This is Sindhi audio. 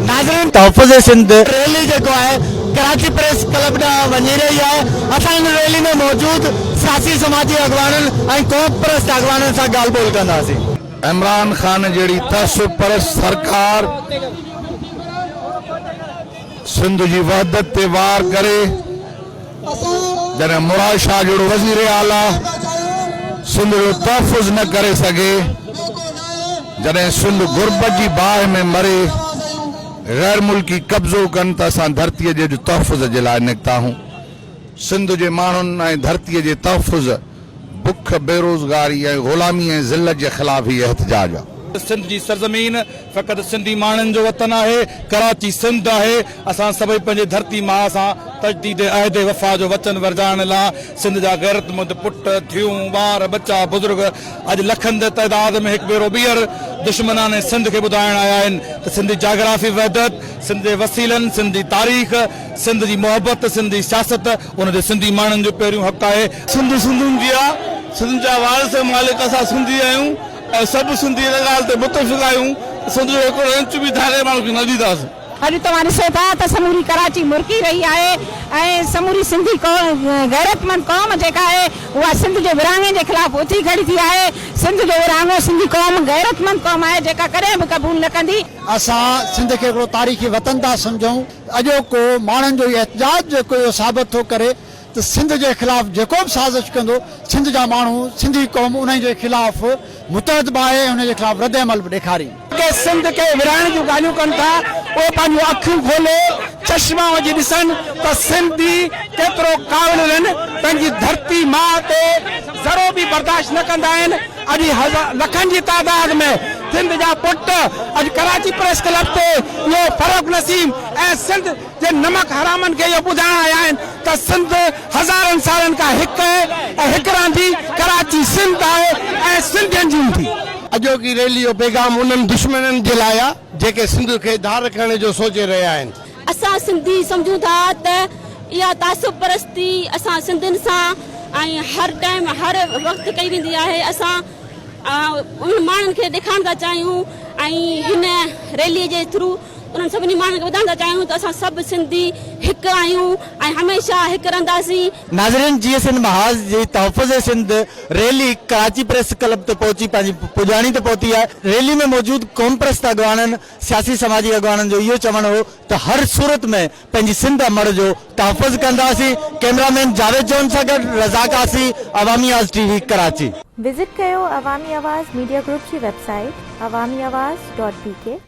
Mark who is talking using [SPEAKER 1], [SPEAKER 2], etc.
[SPEAKER 1] ناظرين تحفظ سنڌ ريلي جيڪو آهي ڪراچي پريس ڪلب ڏانهن وڃي رهي آهي اسان ان ريلي ۾ موجود سياسي سماجي اڳواڻن ۽ قوم پرست اڳواڻن سان ڳالهه ٻولهه ڪنداسين. عمران خان
[SPEAKER 2] جهڙي تعصب پرست سرڪار سنڌ جي وحدت تي وار ڪري. جڏهن مراد شاهه جهڙو وزير اعليٰ سنڌ جو تحفظ نه ڪري سگهي، جڏهن سنڌ غربت جي باهه ۾ مري، غير ملڪي قبضو ڪن ته اسان ڌرتيء جي تحفظ جي لاء نڪتاهون. سنڌ جي ماڻهن ۽ ڌرتيء جي تحفظ بک، بيروزگاري ۽ غلامي ۽ ذلت جي خلاف هي احتجاج آ. سنڌ جي سرزمين
[SPEAKER 3] فقط سنڌي ماڻهن جو وطن آهي، ڪراچي سنڌ آهي، اسان سڀئي پنهنجي ڌرتي ماء سان تجديد عهد وفا جو وچن ورجائڻ لا سنڌ جا غيرتمند پٽ، ڌيئون، ٻار، ٻچا، بزرگ اڄ لکن جي تعداد ۾ هڪ ڀيرو ٻيهر دشمنان سنڌ کي ٻڌائڻ آيا آهن ته سنڌي جاگرافي وحدت، سنڌ جي وسيلن، سنڌ جي تاريخ، سنڌ جي محبت، سنڌ جي سياست ان جو سنڌي ماڻهن جو پهريون حق آهي سنڌ سنڌين جي
[SPEAKER 4] آ، سنڌ جا وارث ۽ مالڪ اسان سنڌي آهيون ۽ سڀ سنڌي ان ڳالهه تي متفق آهيون ته سنڌ جو هڪڙو انچ به ڌارئين ماڻهو کي نه ڏينداسين. اڄ توهان ڏسو
[SPEAKER 5] ٿا ته سموري ڪراچي مرڪي رهي آهي ۽ سموري سنڌي غيرتمند قوم جيڪا آهي اها سنڌ جي ورهاڱي جي خلاف اٿي کڙي ٿي آهي. سنڌ جو ورهاڱو سنڌي قوم غيرتمند قوم آهي جيڪا ڪڏهن به قبول نه ڪندي. اسان سنڌ
[SPEAKER 6] کي هڪڙو تاريخي وطن ٿا سمجهون. اڄوڪو ماڻهن جو احتجاج جيڪو اهو ثابت ٿو ڪري ته سنڌ جي خلاف جيڪو به سازش ڪندو، سنڌ جا ماڻهو، سنڌي قوم انهي جي خلاف متحد به آهي ۽ انهي جي خلاف رد عمل به ڏيکارين. جيڪي سنڌ کي
[SPEAKER 1] ورهائڻ جون ڳالهيون ڪن ٿا، اهي پنهنجون اکيون کولي چشما وجهي ڏسن ته سنڌي ڪيترو ڪاوڙيلن پنهنجي ڌرتي ماء تي ذرو به برداشت نه ڪندا آهن. اڄ لکن جي تعداد ۾ سنڌ جا پٽ اڄ ڪراچي پريس ڪلب تي اهو فرخ نسيم ۽ سنڌ جي نمڪ حرامن کي اهو ٻڌائڻ آيا آهن ته سنڌ هزارن سالن کان هڪ اهي ۽ هڪ رهندي، ڪراچي سنڌ آهي ۽ سنڌين جي هوندي. اڄوڪي ريلي
[SPEAKER 4] جو پيغام انهن دشمنن جي لاء آ جيڪي سنڌ کي ڌار ڪرڻ جو سوچي رهيا آهن. اسان سنڌي
[SPEAKER 7] سمجهون ٿا ته اها تعصب پرستي اسان سنڌين سان ۽ هر ٽائيم هر وقت ڪئي ويندي آهي اسان انهن ماڻهن کي ڏيکارڻ ٿا چاهيون ۽ هن ريلي جي ٿرو انهن سڀني ماڻهن کي ٻڌائڻ ٿا چاهيون ته اسان سڀ سنڌي هڪ آهيون ۽ هميشه هڪ رهنداسين. ناظرين جيئي سنڌ
[SPEAKER 1] محاذ جي تحفظ Sindh rally Karachi press club تي پهچي پنهنجي پڄاڻي تي پهتي آهي ريلي ۾ موجود قومپرست اڳواڻن سياسي سماجي اڳواڻن جو اهو چوڻ هو ته هر صورت ۾ پنهنجي سنڌ امڙ جو تحفظ ڪنداسين ڪيمرا مين جاويد جون سان گڏ رضا Qazi Awami Awaz TV Karachi. Visit
[SPEAKER 8] ڪيو عوامي آواز ميڊيا گروپ جي
[SPEAKER 1] web
[SPEAKER 8] site Awami Awaz dot بي ڪي.